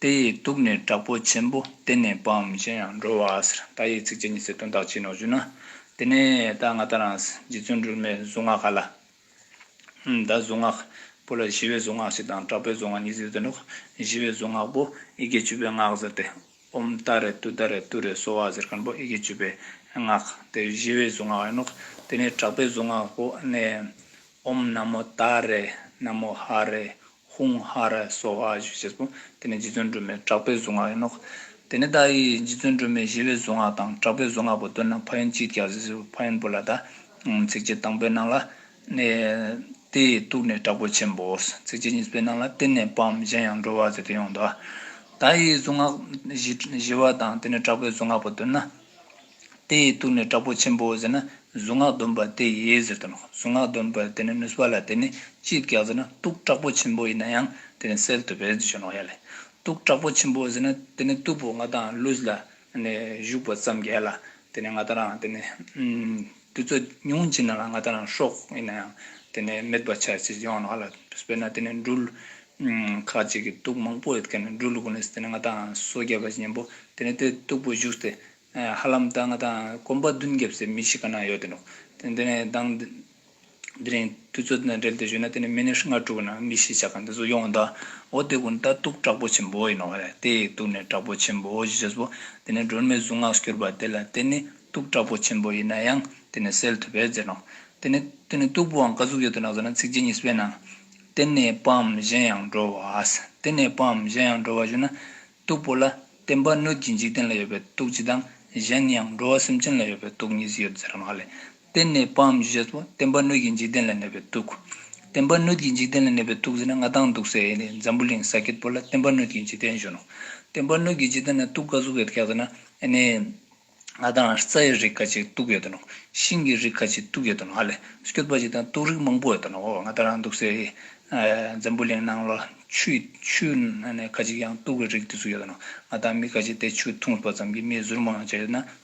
དེ་ཡི་དུག་ནི་དྲག་པོ་ཆེན་པོ་གཏན་ནས་སྤངས་མི་བྱེད་ཡང་འགྲོ་བ་ཟེར་ད་ཡིག་ཚིགས་བཅད་གཉིས་སེ་དོན་དག་ཅི་ནོ་ཞུ་ན། དེ་ནས་ད་ང་ད་རང་རྗེ་བཙུན་སྒྲོལ་མའི་གཟུངས་སྔགས་ག་ལ། ད་གཟུངས་སྔགས་པོ་ལ་ཞི་བའི་གཟུངས་སྔགས་ཞིག་དང་དྲག་པོའི་གཟུངས་སྔགས་གཉིས་ཟེར་དོན་དག་ཞི་བའི་གཟུངས་སྔགས་པོ་ཨི་དགེ་བཅུ་པའི་སྔགས་ཟེར་ཏེ། ཨོམ་ཏཱ་རེ་ཏུ་ཏཱ་རེ་ཏུ་རེ་སོ་བ་ཟེར་མཁན་པོ་ཨེ་ཀྱི་བརྗོད་པའི་སྔགས་དེ་བཞི་བའི་གཟུངས་སྔགས་ཡིན་ནོ། དེ་ནས་དྲག་པའི་གཟུངས་སྔགས་པོ་ནི། ཨོམ་ན་མོ་ཏཱ་རེ་ན་མོ་ཧ་རེ་ཧཱུྃ་ཧ་རེ་སོ་བ་བཞི་བྱས་པོ། དེ་ནི་རྗེ་བཙུན་སྒྲོལ་མའི་དྲག་པའི་གཟུངས་སྔགས་ཡིན་ནོ། དེ་ནས་ཏཱ་ཡིས་རྗེ་བཙུན་སྒྲོལ་མའི་བཞི་བའི་གཟུངས་སྔགས་དང་དྲག་པའི་གཟུངས་སྔགས་པོ་བཏོན་ན་ཕ་ཡུལ་གཅིག་ཀྱང་བཟི་ཟིར་བུ་ཕ་ཡུལ་པོ་ལ་ད། ཚིགས་བཅད་དང་པོའི་ནང་ལ། ནས། དེ་ཡི་སྟུག་ནི་དྲག་པོ་ཆེན་པོ། ཚིགས་བཅད་གཉིས་པའི་ནང་ལ་གཏན་ནས་སྤང་བའམ་གཞན་ཡང་འགྲོ་བ་ཟེར་ཏེ་ཡོངས་འདུ་བ། ད་ཡིས་གཟུངས་སྔགས་བཞི་བ་དང་དེ་ནི་དྲག་པོའི་གཟུངས་སྔགས་པ་བཏོན་ན། དེ་ཡི་སྟུག་ནི་དྲག་པོ་ཆེན་པོ་ཟེར་ན་གཟུངས་སྔགས་འདོན་པ་དེ་ཡིས་ཟེར་ཏེ་གཟུངས་སྔགས་འདོན་པའི་དེ་ནི་ནུས་པ་ལ་དེ་ནི་ཅིས་བཀག་ཟེར་ན་སྟུག་དྲག་པོ་ཆེན་པོ་ཡིན་ན་ཡང་དེ་ནི་སེལ་དུ་བས་ཅི་བྱུང་ནོ་ཡ་ལས། སྟུག་དྲག་པོ་ཆེན་པོ་ཟེར་ན་དེ་ནི་སྟུག་པོ་ང་དང་ལུས་ལ་ནས་བཞུགས་པ་ཙམ་གྱིས་ལ་དེ་ནས་ང་དང་རང་དུ་རྩོད་ཉུང་ཅིག་ན་ལ་ང་དང་རང་ཤོག་ཡིན་ན་ཡང་དེ་ནས་མེད་པར་བྱ་ཅི་ཡོང་ལ་དཔེར་ན་དེ་ནས་འགྲུལ་ཁ་ཅིག་གིས་དུག་མང་པོ་ཡོད་ཀྱང་འགྲུལ་དགོས་ནས་དེ་ནས་ང་དང་སོ་བརྒྱད་པ་གཉེན་པོ་དེ་ནས་དེ་སྟུག་པོ་བཞུགས་ཏེ་ཧ་ལམ་ད་ང་དང་གོམ་པ་བདུན་བརྒྱབ་སའི་མི་ཞིག་ག་ན་ཡོད་དེ་འགྲོ་དེ་ནས་དང་དེ་རིང་དུས་ཚོད་དང་འབྲེལ་ཏེ་བཞུགས་ན་དེ་ནི་མི་ནི་ང་དྲུག་ན་མི་ཞེས་བྱ་གང་དེ་ཚོ་ཡོང་གདའ་འོ་དེ་ཀུན་ད་ཏུག་དྲག་པོ་ཆེན་པོ་ཡིན་ནོ་རེད་དེ་ཡིས་ཏུག་ནི་དྲག་པོ་ཆེན་པོ་ཞེས་བྱས་སོ། དེ་ནས་སྒྲོལ་མའི་གཟུངས་སྔགས་སུ་གྱུར་པ་དེ་ལ་དེ་ནི་ཏུག་དྲག་པོ་ཆེན་པོ་ཡིན་ན་ཡང་དེ་ནི་སེལ་ཐུབ་པས་འཛིན་ནོ། དེ་ནི་དེ་ནི་ཏུག་པོའང་བཀའ་ཟུག་ཡོད་དོ་ན་ཟེར་ན་ཚིགས་བཅད་གཉིས་སུ་དབྱེ་ན། དེ་ནས་པའམ་གཞན་ཡང་འགྲོ་བ། དེ་ནས་པའམ་གཞན་ཡང་འགྲོ་བ་བཞུགས་ན། ཏུག་པོ་ལ། བསྟན་པ་སྣོད་ཀྱི་འཇིག་རྟེན་ལ་ཡོད་པའི་ཏུག་སྤྱི་དང། གཞན་ཡང་འགྲོ་བ་སེམས་ཅན་ལ་ཡོད་པའི་ཏུག་གཉིས་སུ་ཡོད་ཟེར་བ་མ་ལས། བརྟེན་ནས་པའམ་ཞེས་བྱ་བ་བརྟེན་པ་སྣོད་ཀྱི་འཇིག་རྟེན་ལ་གནས་པའི་དུག། བརྟེན་པ་སྣོད་ཀྱི་འཇིག་རྟེན་ལ་གནས་པའི་དུག་ཟེར་ན་ང་དང་འདུག་ཟེར་ནས་འཛམ་བུ་གླིང་ས་སྐྱེས་པོ་ལ་བརྟེན་པ་སྣོད་ཀྱི་འཇིག་རྟེན་གཞོན་ནོ། བརྟེན་པ་སྣོད་ཀྱི་འཇིག་རྟེན་ན་དུག་ག་གཟུགས་ཡོད་ཀྱི་ཟེར་ན་ནི། ང་དང་རྩྭ་ཡི་རིགས་ཁ་ཅིག་དུག་ཡོད་དོ་ནོ། ཤིང་གི་རིགས་ཁ་ཅིག་དུག་ཡོད་དོ་ནོ་ཨ་ལས་སྐྱོད་པ་ཅིག་དང་དུག་རིགས་མང་པོ་ཡོད་དོ་ནོ་ང་དང་འདུག་ཟེར་ནས་འཛམ་བུ་གླིང་ནང་ལ་ཆུ་ཁ་ཅིག་ཀྱང་དུག་གི་རིགས་དེ་ཚོ་ཡོད་དོ་ནོ། ང་དང་མི་ཁ་ཅིག་དེ་ཆུ་འཐུང་བ་ཙམ་གྱིས་མིའི་གཟུར་མང་ཡང་བྱས་ཡོད་ན།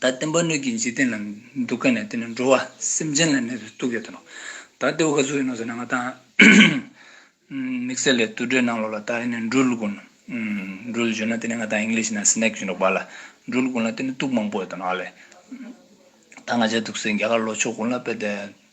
ད་བསྟན་པ་སྣོད་ཀྱི་འཇིག་རྟེན་ལ་འདུག་དཀའ་ནས་དེ་ནི་འགྲོ་བ་སེམས་ཅན་ལ་གནས་པའི་སྡུག་ཡོད་དོ། ད་ལྟེ་བ་ག་ཚོད་ཡིན་ནོ་ཟེར་ན་ང་ད། དམིགས་བསལ་ལས་དུར་ཁྲོད་ནང་ལོགས་ལ་ད་ཡིན་ནོ་འགྲུལ་དགོན། འགྲུལ་ཞེས་ན་དེ་ནི་ང་ད English ན Snake ཞེས་འདོགས་པ་ལ། འགྲུལ་དགོན་ལ་དེ་ནི་སྡུག་མང་པོ་ཡོད་དོ་ནའོ་ལེ། ད་ང་བྱས་འདུག་སའི་རྒྱ་གར་ལོགས་ཕྱོགས་དགུང་ལ་དཔལ་ལྡན།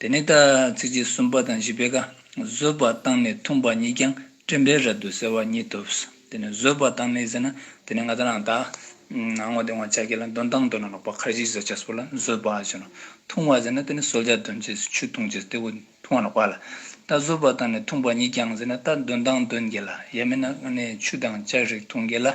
དེ་ནས་ད་ཚིགས་བཅད་གསུམ་པ་དང་བཞི་པའི་ཀ། བཟོད་པ་བཏང་ནས་འཐུངས་པ་ཉིད་ཀྱང་དྲན་པའི་རབ་ཏུ་གསལ་བ་ཉིད་ཐོབ། དེ་ནས་བཟོད་པ་བཏང་ནས་ཟེར་ན་དེ་ནས་ང་ད་རང་དག། སྔོན་དེ་དབང་ཆ་གྱིས་ལ་འདོན་དང་འདོན་ན་ལོག་པ་ཁར་གཞི་བཟོད་བྱ་སོགས་ལ་བཟོད་པ་ཞེས་ནོ། འཐུང་བ་ཟེར་ན་དེ་ནི་གསོལ་ཇ་འདོན་བྱེད་སུ་ཆུ་འཐུང་བྱེད་སྟེ་འུ་འཐུང་བ་ལོག་པ་ལ། ད་བཟོད་པ་བཏང་ནས་འཐུངས་པ་ཉིད་ཀྱང་ཟེར་ན་ད་འདོན་དང་འདོན་བྱེད་ལ་ཡ་མེད་ན་ནི་ཆུ་དང་ལྕགས་རིགས་འཐུང་བྱེད་ལ།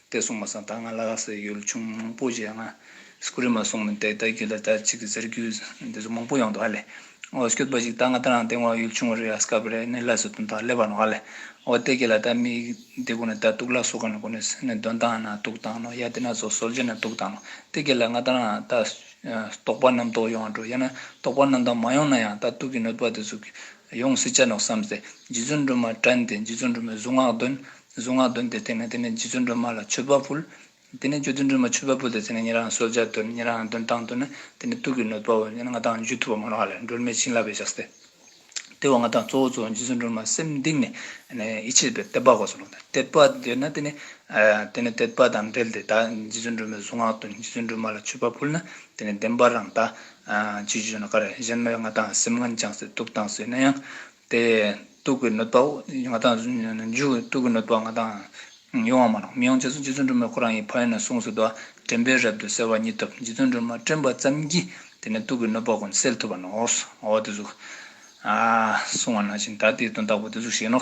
བལྟས་སོང་མ་སོང་ད་ང་ལ་ལ་ཟེར་ཡོད་ཆུང་མང་པོ་ཞེ་ང་སྐུ་རེ་མ་སོང་མི་འདེག་ད་རྒྱུད་ལ་ད་ཅིག་གི་ཟེར་རྒྱུ་འདི་ཚོ་མང་པོ་ཡོང་འདུག་ཨ་ལས་འོ་སྐྱོད་པ་ཞིག་ད་ང་ད་རང་སྟེང་འོ་ཡུལ་ཆུང་བ་རེ་ཨ་སྐབས་རེ་ནི་ལ་ཟེར་དོན་དག་སླེབས་པ་ནོ་ཨ་ལས་འོ་བལྟས་ཀྱི་ལ་ད་མི་འདི་གོ་ནི་ད་གཏུག་ལ་སོ་ག་ནི་གོ་ནི་ཟེར་ནི་འདོན་སྟངས་ན་གཏུག་སྟངས་ནོ་ཡ་དེ་ན་ཟོ་སོལ་ཇི་ན་གཏུག་སྟངས་ནོ་བལྟས་ཀྱི་ལ་ང་ད་རང་ད་རྟོག་པ་རྣམ་རྟོག་ཡོང་འགྲོ་ཡ་ན་རྟོག་པ་རྣམ་དག་མ་ཡོང་ན་ཡང་ད་གཏུག་གི་ནོད་པ་དེ་ཚོ་ཡོང་སྲིད་ཅ་ནོ་བསམ་ཚེ་རྗེ་བཙུན་སྒྲོལ་མ་བཀྲ་འདི་རྗེ་བཙུན་སྒྲོལ་མའི་གཟུངས་སྔགས་འདོན། གཟུངས་སྔགས་འདོན་ཏེ་བསྟན་ནས་དེ་ནས་རྗེ་བཙུན་སྒྲོལ་མ་ལ་མཆོད་པ་ཕུལ། དེ་ནས་རྗེ་བཙུན་སྒྲོལ་མ་མཆོད་པ་ཕུལ་ཏེ་དེ་ནས་ཉིན་རང་གསོལ་ཇ་དོན་ཉིན་རང་འདོན་སྟངས་དོན་ནི་དེ་ནས་སྟུག་གི་ནོད་པའོ་ཉིན་ལྔ་དང་བཅུ་ཐུབ་པ་མ་ལགས་ལས་སྒྲོལ་མའི་བྱིན་བརླབས་པས་བྱ་སྟེ། དེ་བ་ལྔ་དང་གཙོ་བོ་གཙོ་བོ་རྗེ་བཙུན་སྒྲོལ་མ་སེམས་གཏིང་ནས་ཡིད་ཆེས་པས་དད་པ་གོ་སོང་དད་པ་འདོད་ན་དེ་ནས་དེ་ནས་དད་པ་དང་འབྲེལ་ཏེ་ད་རྗེ་བཙུན་སྒྲོལ་མའི་གཟུངས་སྔགས་འདོན་རྗེ་བཙུན་སྒྲོལ་མ་ལ་མཆོད་པ་ཕུལ་ན་དེ་ནས་བདེན་པར་རང་དག། ཅེས་བརྗོད་ན་དཀའ་རེ་གཞན་མ་ཡོད་ང་དང་སེམས་ངན་ཅང་སེ་སྟུག་དང་སོས་ན་ཡང། དེ་སྟུག་གི་གནོད་པའོ། ང་དང། མཇུག་སྟུག་གི་གནོད་པ་ང་དང། ཡོང་བ་མ་གནང། མི་ཡོང་རྗེས་སུ་རྗེ་བཙུན་སྒྲོལ་མས་ཁོ་རང་ཡི་ཕ་ཡིན་ནོ་གསུངས་སོ། དོ་དྲན་པའི་རབ་ཏུ་གསལ་བ་མྱི་ཐུབ། རྗེ་བཙུན་སྒྲོལ་མ་དྲན་པ་ཙམ་གྱིས་དེ་ནས་སྟུག་གི་གནོད་པ་ཀུན་སེལ་ཐུབ་པ་ནོ། འོ་དེ་གཟུགས། གསུང་བ་ན་བཞིན་ད་དེའི་དོན་རྟག་པ་དེ་གཟུགས་བཞིན་ནོ།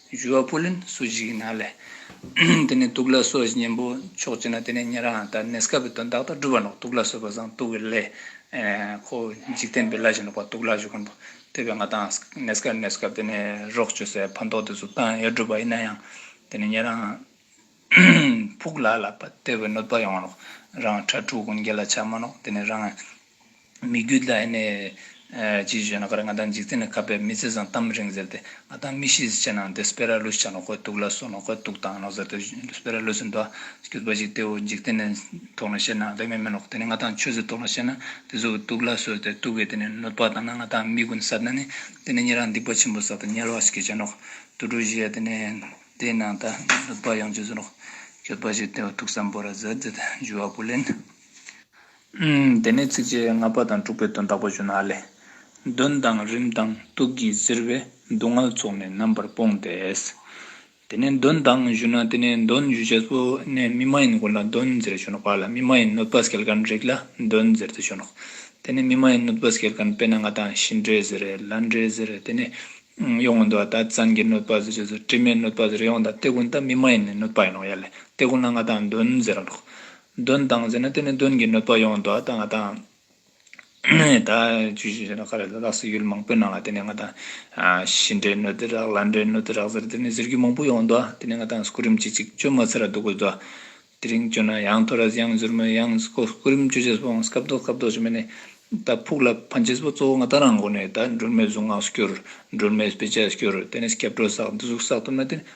བཞུ་བ་པོ་ལིན་སོ་ཞིག་གི་ནང་ལས། དེ་ནས་དུག་ལ་སོ་ཞེས་གཉེན་པོ་མཆོག་བྱེད་ན་དེ་ནས་ཉན་རང་དང་ནེས་ཀ་བའི་དོན་བདག་དང་སྒྲུབ་པ་ནོག་དུག་ལ་སོས་པ་བཟང་དུག་གི་ལས། ཁོ་བོ་འཇིག་རྟེན་པའི་ལ་ཞིག་ནོག་པ་དུག་ལ་ཞུགས་ཀུན་པོ་དེ་བས་ང་དང་ནེས་ཀ་ནེས་ཀ་དེ་ནས་རོགས་བྱོས་སའི་ཕན་ཐོགས་དེ་ཚོ་བཏང་ཡོད་སྒྲུབ་པ་ཡིན་ན་ཡང་དེ་ནས་ཉན་རང། ཕུག་ལ་ལ་པ་དེ་བས་གནོད་པ་ཡོང་ནོག་རང་ཁྲ་ཕྲུག་ཀུན་རྒྱལ་ལ་ཆ་མ་ནོག་དེ་ནས་རང། མི་རྒྱུད་ལ་ནི། ཅེས་བརྗོད་ན་ཀར་ང་དང་འཇིག་རྟེན་ལ་གབ་པའི་མི་ཚེ་བཟང་གཏམ་རིང་ཟེར་ཏེ་ང་དང་མི་ཤི་ཟེར་བྱས་ནའང་དེ་སྤེ་ར་ལུས་ཆགས་ན་དགོས་གཏུགས་ལ་སོགས་ན་དགོས་གཏུགས་དང་ལོག་ཟེར་ཏེ་སྤེ་ར་ལུས་སུ་འདུག་གྱུར་པ་ཞིག་སྟེའོ་འཇིག་རྟེན་ནས་དོགས་ལ་བཤད་ན་དེ་མེད་མི་ལོག་དེ་ནས་ང་དང་ཆོས་ཚུལ་དོགས་ལ་བཤད་ན་དེ་གཟུགས་གཏུགས་ལ་སོགས་ཏེ་གཏུགས་པའི་དེ་ནས་གནོད་པ་དང་ན་ང་དང་མི་ཀུན་ཟབ་ན་ནི་དེ་ནས་ཉེ་རང་སྡིག་པ་ཆེན་པོ་ཟབ་དང་ཉེ་བར་གྱིས་བྱས་ནོག་ཏུ་གྲུ་བཞི་དེ་ནས་དེའི་ནང་དང་གནོད་པ་ཡོངས་ཀྱིས་སུ་ལོག་གྱུར་པ་ཞིག་སྟེའོ་ཐུགས་བསམ་པོ་ར་ཟེར་ཏེ་འཇུ་བ་པོ་ལེན། དེ་ནས་ཚིགས་བཅད་ལྔ་པ་དང་དྲུག་པའི་དོན་དག་པ་བཞིན་ཨ་ལས། གདོན་དང་རིམས་དང་དུག་གིས་གཟིར་བའི་སྡུག་བསྔལ་ཚོགས་ནི་རྣམ་པར་སྤོང་སྟེ། དེ་ནས་གདོན་དང་བཞུ་ན་དེ་ནས་གདོན་བཞུ་བྱེད་སོ་ནས་མི་མ་ཡིན་ཀུན་ལ་གདོན་གཟིར་བྱོན་ནོ་པ་ལ་མི་མ་ཡིན་གནོད་པ་སྐལ་དཀར་རིགས་ལ་གདོན་གཟིར་དུ་བྱོན་ནོ། དེ་ནས་མི་མ་ཡིན་གནོད་པ་སྐལ་དཀར་དཔེར་ན་ང་དང་ཤི་འདྲེ་གཟིར་ལ་འདྲེ་གཟིར་དེ་ནས་གཡོག་མོ་འདུལ་བ་དང་ཙན་གྱིས་གནོད་པ་གཟིར་བྱེད་སོ་དྲི་མས་གནོད་པ་གཟིར་ཡོངས་དང་དེ་ཀུན་དང་མི་མ་ཡིན་ནི་གནོད་པ་ཡིན་ནོ་ཡ་ལས་དེ་ཀུན་ལ་ང་དང་གདོན་གཟིར་རོ། གདོན་དང་ཟེར་ན་དེ་ནི་གདོན་གྱི་གནོད་པ་ཡོང་དོ་ད་ང་ད་ད་ཇུས་གཞི་ཞེས་ན་ཁ་རེ་ལ་ལགས་སོ་ཡུལ་མང་པོའི་ནང་ལ་དེ་ནས་ང་ད་ཤི་འདྲེ་གནོད་འདི་རག་ལ་འདྲེ་གནོད་འདི་རག་ཟེར་དེ་ནི་ཟེར་རྒྱུ་མང་པོ་ཡོང་དོ་དེ་ནས་ང་ད་སྐུ་རིམ་ཅིག་ཅིག་བཅོས་མ་ཚར་སྡུག་པོ་དོ། དེ་རིང་བཅོས་ན་ཡང་ཐོ་རེས་ཡང་ཟུར་མོས་ཡང་སྐུ་རིམ་བཅོས་རྗེས་སུ་སྐབས་ལྡོག་སྐབས་ལྡོག་བྱེད་མི་ནི། ད་ཕུག་ལ་ཕན་ཆེས་པོ་གཙོ་བོ་ང་ད་རང་མགོ་ནས་ད་སྒྲོལ་མའི་གཟུངས་སྔགས་སུ་སྐྱུར་སྒྲོལ་མའི་དཔེ་ཆ་སྐྱུར་དེ་ནས་སྐྱབས་གྲོལ་བསགས་འདི་གཟུགས་བསགས་ཐུབ་ན་དེ་ནི་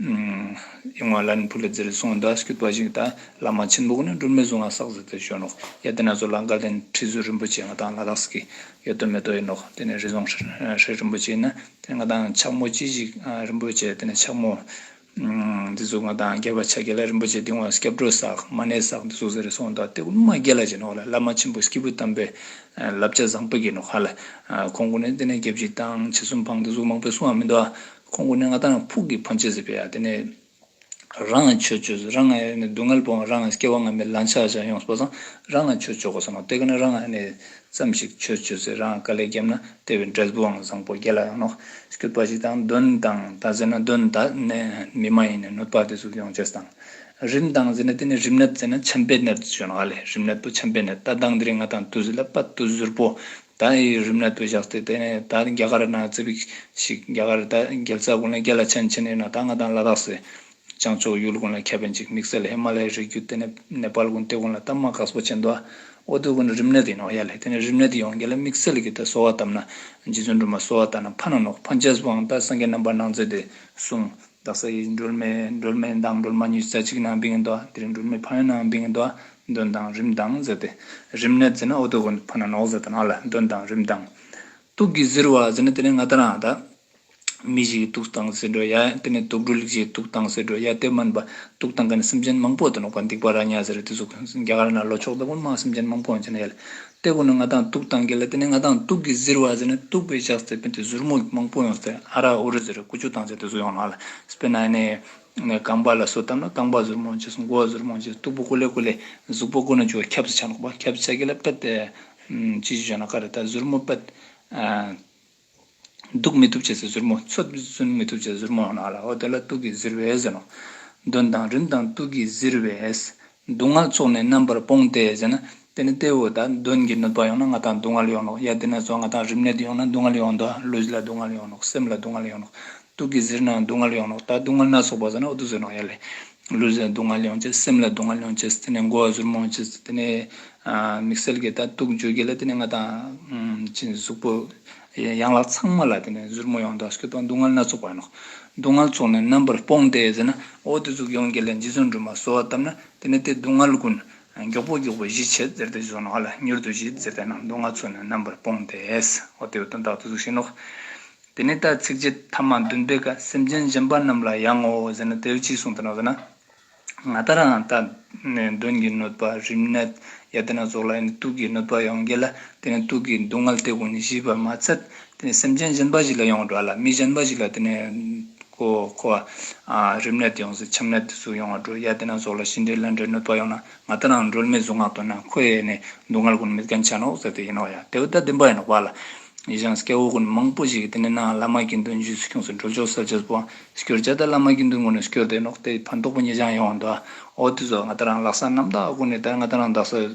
ཡིག་ངོ་ལ་ནི་བུ་ལ་ཛེར་སོང་དང་སྐྱུར་པ་ཞིག་དང་བླ་མ་ཆེན་པོ་གོ་ནི་སྒྲོལ་མའི་གཟུངས་ང་སག་ཟིག་དེ་ཞོན་ནོ། ཡ་དེ་ན་ཚོ་ལ་འགའ་ལན་ཁྲི་ཟུར་རིན་པོ་ཆེ་ང་དང་ལ་དྭགས་སི་ཀི་ཡོད་དོ་མེད་དོ་ཡིན་ནོ་དེ་ནས་རི་ཟོང་ཧྲེ་རིན་པོ་ཆེ་ན་དེ་ནས་ང་དང་ཕྱག་མོ་ཅི་ཞིག་རིན་པོ་ཆེ་དེ་ནས་ཕྱག་མོ། འདི་ཚོ་ང་དང་རྒྱལ་བ་ཕྱག་རྒྱ་ལ་རིན་པོ་ཆེ་དེ་ངོ་སྐྱབས་འགྲོ་སག་མ་ནའི་སག་འདི་ཚོ་ཟེར་སོང་དང་དེ་ཀུ་ནུ་མ་རྒྱལ་ལ་བྱས་ནོ་ལ་བླ་མ་ཆེན་པོ་སྐྱེས་བུ་དམ་པའི་བསླབ་བྱ་བཟང་པོ་བགྱིས་ནོ་ཧ་ལ་ཁོང་ཀུ་ནུ་དེ་ནས་རྒྱབ་ཅིག་དང་ཕྱི་གསུམ་འཕང་དེ་ཚོ་མང་པོའི་གསུང་བ་མི་འདུག་ཨ། ཁོང་ཀུན་ནས་ང་དང་ཕུགས་ཀྱི་ཕམ་ཆད་ཟིག་བེད་ཡ་དེ་ནས། རང་ང་ཆོས་སྤྱོད་ཟིག་རང་ང་ཡ་ནས་སྡུག་བསྔལ་པོ་འང་རང་ང་སྐྱེ་བ་འང་མེད་ལང་ཆགས་ཆགས་ཡོང་ཟིག་པོ་ཚང་རང་ང་ཆོས་སྤྱོད་གོ་ས་མ་དེ་ག་ནས་རང་ང་ཡ་ནས་ཙམ་ཞིག་ཆོས་སྤྱོད་ཟིག་རང་ང་དཀའ་ལས་རྒྱབ་ན་དེ་བས་འབྲས་བུ་འང་བཟང་པོ་རྒྱལ་ལ་ཡང་ནོག་སྐྱོད་པ་ཞིག་དང་དོན་དང་དང་ཟེར་ན་དོན་དག་ནས་མི་མ་ཡིན་ནས་གནོད་པ་དེ་ཟུག་ཡོང་ཆེ་ས་དང། རིམས་དང་ཟེར་ན་དེ་ནས་རིམས་ནད་ཟེར་ན་ཆམ་པའི་ནད་ཟུག་ཡོང་ང་ལས་རིམས་ནད་པོ་ཆམ་པའི་ནད་ལྟ་སྟངས་དེ་རིང་ང་དང་དུ་ཟིག་ལ་པ་དུ་ཟུར་པོ་ད་ཡི་རིམ་ལ་བོད་ཞག་སྟེ་དེ་ནས་ད་རྒྱ་གར་ནང་རྩེ་བིག་ཞིག་རྒྱ་གར་ད་རྒྱལ་རྩ་དགོན་ལ་རྒྱལ་ལ་ཆེན་ཆེན་ནས་ན་ད་ང་དང་ལ་དྭགས་སེ་བྱང་ཕྱོགས་ཡུལ་དགོན་ལ་ཁྱབ་པན་ཅིག་དམིགས་བསལ་ཧེ་མ་ལའི་རི་རྒྱུད་དེ་ནས་ནེ་པཱལ་དགོན་སྟེ་དགོན་ལ་ད་མ་ག་སོ་ཆེན་དོ་ཨོ་དོ་དགོན་རིམ་ནས་དེ་ཡིན་ནོ་ཡ་ལྷེ་དེ་ནས་རིམ་ནས་དེ་ཡོང་རྒྱལ་ལ་དམིགས་བསལ་གྱི་ད་གསོལ་བ་བཏབ་ན་རྗེ་བཙུན་སྒྲོལ་མ་གསོལ་བ་བཏབ་ན་ཕ་ན་ནོག་ཕ་མཇལ་བཟུང་བའང་ད་སངས་རྒྱས་རྣམ་པར་སྣང་མཛད་དེ་གསུངས། བདག་ས་ཡི་སྒྲོལ་མས་སྒྲོལ་མའི་མདངས་སྒྲོལ་མ་གཉིས་ས་གཅིག་ན་འབིང་འདོ། དེར་སྒྲོལ་མའི་ཕ་ཡོན་ན་འབིང་འདོ། འདོན་དང་རིམ་མདངས་ཟེར་ཏེ། རིམ་ནི་ཛི་ན་ཨོ་དོ་གོ་ནི་ཕ་ན་ནོག་ཟེར་དོ་ན་ལ་འདོན་དང་རིམ་མདངས། དུག་གིས་གཟིར་བ་ཟེར་ནི་དེ་ནི་ང་ད་རང་ད། མི་ཞིག་གི་དུག་དང་ཟེར་འགྲོ་ཡ། དེ་ནི་དུག་སྒྲོལ་གྱི་དུག་དང་ཟེར་འགྲོ་ཡ་སྟེ་སྨན་པ་དུག་དང་ག་ནི་སེམས་ཅན་མང་པོ་དུ་ནོག་པ་འདེགས་པ་ར་ཉ་ཟེར་རེ་ཏི་གཟུགས། རྒྱ་གར་ན་ལོ་ཕྱོགས་ལྟ་བུར་མ་སེམས་ཅན་མང་པོ་འོན་ཆ་ན་ཡལ། ལྟེ་བ་ནི་ང་དང་སྟུག་དང་གི་ལ་དེ་ནས་ང་དང་སྟུག་གི་གཟིར་བ་ཟེར་ནས་སྟུག་པའི་ཞག་ཟེར་བས་དེ་གཟུར་མོ་མང་པོ་ཡོང་ཟེར་ཨ་རག་ཨུ་རི་ཟེར་ཀུ་ཅུ་དང་ཟེར་དེ་གཟུར་ཡོང་ལ་ལ་སྤེ་ན་ནས་ནས་རྐང་པ་ལ་སོ་བཏབ་ན་རྐང་པ་གཟུར་མོ་ཇི་སོང་མགོ་བ་གཟུར་མོ་ཇི་སྟུག་པོ་ཀུ་ལེ་ཀུ་ལེ་གཟུག་པོ་ཀུ་ན་ཅུ་བ་ཁབ་ཟེར་ཆ་ནོག་པ་ཁབ་ཟེར་གི་ལ་པད་ཅི་ཞིག་བྱོན་ན་ཀ་རེ་ད་གཟུར་མོ་པད། གདུག་མི་ཐུབ་བྱས་ཚེ་གཟུར་མོ་འཚོ། གཟུན་མི་ཐུབ་བྱས་ཚེ་གཟུར་མོ་ནག་ལའོ། དེ་ལ་གཏུགས་ཀྱིས་གཟིར་བས་གཟིར་ནོ། གདོན་དང་རིམས་དང་གཏུགས་ཀྱིས་གཟིར་བས། གདུག་སྔགས་ཚོགས་ནི་རྣམ་པར་སྤོང་སྟེ་ཟེར་ན། དེ་ནི་ལྟེ་འོག་དང་གདོན་གྱི་གནོད་པ་ཡོང་ན་ང་དང་གདུག་སྔལ་ཡོང་ནོ། ཡ་དེ་ནས་བཟུང་ང་དང་རིམས་ནད་ཡོང་ན་གདུག་སྔལ་ཡོང་ནོ། ལུས་ལ་གདུག་སྔལ་ཡོང་ནོ། སེམས་ལ་གདུག་སྔལ་ཡོང་ནོ། དུག་གིས་གཟིར་ནའང་སྡུག་བསྔལ་ཡོང་རོགས་ད་སྡུག་བསྔལ་སྣ་ཚོགས་པ་ཟ་ན་ཨུ་ཏུ་ཟོས་རོགས་ཡ་ལེ། ལུས་ལ་སྡུག་བསྔལ་ཡོང་ཆེད་སེམས་ལ་སྡུག་བསྔལ་ཡོང་ཆེད་དེ་ནས་མགོ་བ་ཟུར་མང་ཆེད་དེ་ནས། དམིགས་བསལ་གྱི་ད་དུག་འཇོག་རྒྱུ་ལ་དེ་ནས་ང་དང། གཟུགས་པོ། ཡང་ལག་ཚང་མ་ལ་དེ་ནས་ཟུར་མོ་ཡོང་དོགས་ཤིག་དང་སྡུག་བསྔལ་སྣ་ཚོགས་པ་ཡོང་རོགས། སྡུག་བསྔལ་ཚོགས་ནས་རྣམ་པར་སྤོང་སྟེ་ཟ་ན་ཨུ་ཏུ་ཟུག་ཡོང་རྒྱུ་ལ་འཇིགས་ཚོགས་འདྲུད་མ་གསོལ་བ་བཏབ་ན་དེ་ནས་དེ་སྡུག་བསྔལ་ཀུན། མགྱོགས་པོ་མགྱོགས་པོ་གཞིས་བྱེས་ཟེར་ཏེ་བཟོ་ནོག་ལ་མྱུར་དུ་གཞིས་ཟེར་ཏེ་ནང་སྡུག་བསྔལ་ཚོགས་ནས་རྣམ་པར་སྤོང་སྟེ་ཨུ་ཏུ་ཨུ་ཏུ་འདག་ཏུ་ཟུག་བྱེད་ནོག། དེ་ནས་ད་ཚིག་རྗེ་ཐ་མ་བདུན་པའི་སྐབས་སེམས་ཅན་གཞན་པ་རྣམས་ལ་ཡང་ངོ་ཟེར་ན་དེའི་ཕྱིར་གསུངས་དོན་ཟེར་ན། ང་ལྟར་ཡང་ད་ནི་གདོན་གྱིས་གནོད་པ་རིམས་ནད་ཡ་དེ་རྣམས་སོགས་ལ་ཡང་ནི་དུག་གིས་གནོད་པ་ཡང་འགྱེད་ལ་དེ་ནི་དུག་གི་སྡུག་བསྔལ་དེ་ཀུན་ནས་ཞི་བར་མ་ཚད་དེ་ནི་སེམས་ཅན་གཞན་པ་ཞིག་ལ་ཡང་འགྲོ་བ་ལ་མི་གཞན་པ་ཞིག་ལ་དེ་ནི་ཁོ་བ་རིམས་ནད་ཡོངས་སུ་ཁྱམས་ནད་དུ་སུ་ཡང་འགྲོ་ཡ་དེ་རྣམས་སོགས་ལ་ཤི་འདྲེ་ལན་འདྲེ་གནོད་པ་ཡང་ན་ང་ལྟར་ནའང་སྒྲོལ་མའི་གཟུངས་སྔགས་བཏོན་ན་ཁོ་ཡེ་ནས་སྡུག་བསྔལ་ཀུན་མེད་གན་ཆ་ནོག་ཟེར་དུས་ཡིན་ནོག་ཡ་དེ་བས་ད་བདེན་པ་ཡིན་ནོག་བ་ལ། ཡེ་ཤང་སྐྱ་བོ་ཀུན་མང་པོ་ཞིག་གིས་དེ་ནས་ནའང་བླ་མ་དགེ་འདུན་རྒྱུད་སུ་ཁྱུང་སུ་འགྲོ་ཆོག་ཟེར་རྗེས་སུ་བང་སྐྱོར་བྱས་ད་བླ་མ་དགེ་འདུན་ངོ་ནས་སྐྱོར་དེ་ནོག་དེ་ཕན་ཐོག་པོ་ངེད་ཅག་ཡོང་བ་འདུག་ཨ། ཨོ་དེ་ཚོ་ང་ལྟར་ནའང་ལག་ས་རྣམ་དག་ཀུན་ནས་ད་ང་ལྟར་ནའང་བདག་སོགས་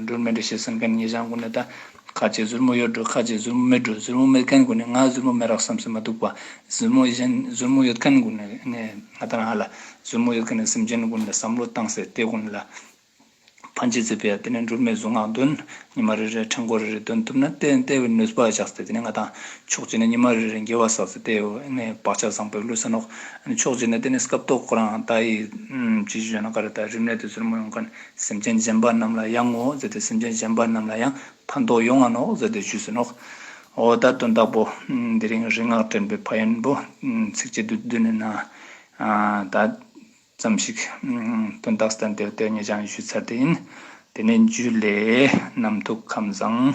སྒྲོལ་མའི་འདྲ་བྱེད་ཟེར་མཁན་ངེད་ཅག་ཀུན་ནས་ད། ཁ་ལྕེ་གཟུར་མོ་གཡོ་འགྲོ་ཁ་ལྕེ་གཟུར་མོ་མི་འགྲོ་གཟུར་མོ་མེད་མཁན་དགོས་ནས་ང་གཟུར་མོ་མེད་རག་བསམ་སེམས་མ་སྡུག་པ། གཟུར་མོ་གཞན་གཟུར་མོ་ཡོད་མཁན་དགོས་ནས་ངས་ང་ལྟར་ང་ལ་གཟུར་མོ་ཡོད་མཁན་ནས་སེམས་ཅན་དགོས་ནས་བསམ་བློ་བཏང་ཟེར་དེ་དགོས་ནས་ལ་ཕན་ཆེ་ཟེར་བས་དེ་ནས་འགྲུར་མེད་གཟུངས་སྔགས་འདོན། ཉི་མ་རེ་རེར་འཕྲེང་སྐོར་རེ་རེ་འདོན་ཐུབ་ན་བལྟས་བལྟས་བས་ནུས་པ་བཞག་ཟེར་དེ་ནས་ང་དང་ཕྱོགས་གཅིག་ནས་ཉི་མ་རེ་རེར་འགྱེལ་བ་བསགས་ཟེར་དེ་ནས་བག་ཆགས་བཟང་པོས་ལུས་ས་ནོག། ཕྱོགས་གཅིག་ནས་དེ་ནས་སྐབས་ཐོག་ཁོ་རང་ད་ཡིས། ཅི་ཞིག་བྱས་ན་ག་རེ་ད་རིམས་ནད་དེ་གཟུར་མོ་ཡོང་མཁན། སེམས་ཅན་གཞན་པ་རྣམས་ལ་ཡང་ངོ་ཟེར་ཏེ་སེམས་ཅན་གཞན་པ་རྣམས་ལ་ཡང་ཕན་འདོགས་ཡོང་ང་ནོག་ཟེར་ཏེ་ཞུས་ཟིན་ནོག། འོ་ད་དོན་དག་པོ། དེ་རིང་རིག་སྔགས་འདྲེན་པའི་ཕ་ཡོན་པོ་ཚིགས་བཅད་དུ་བསྡུས་ནས་ན་ད་ཙམ་ཞིག་དོན་དག་སྟན་དེར་དེ་ངས་ཀྱང་ཞུས་ཚར་དེ་ཡིན། དེ་ནས་རྒྱུད་ལས། རྣམ་ཐུགས་ཁམས་བཟང།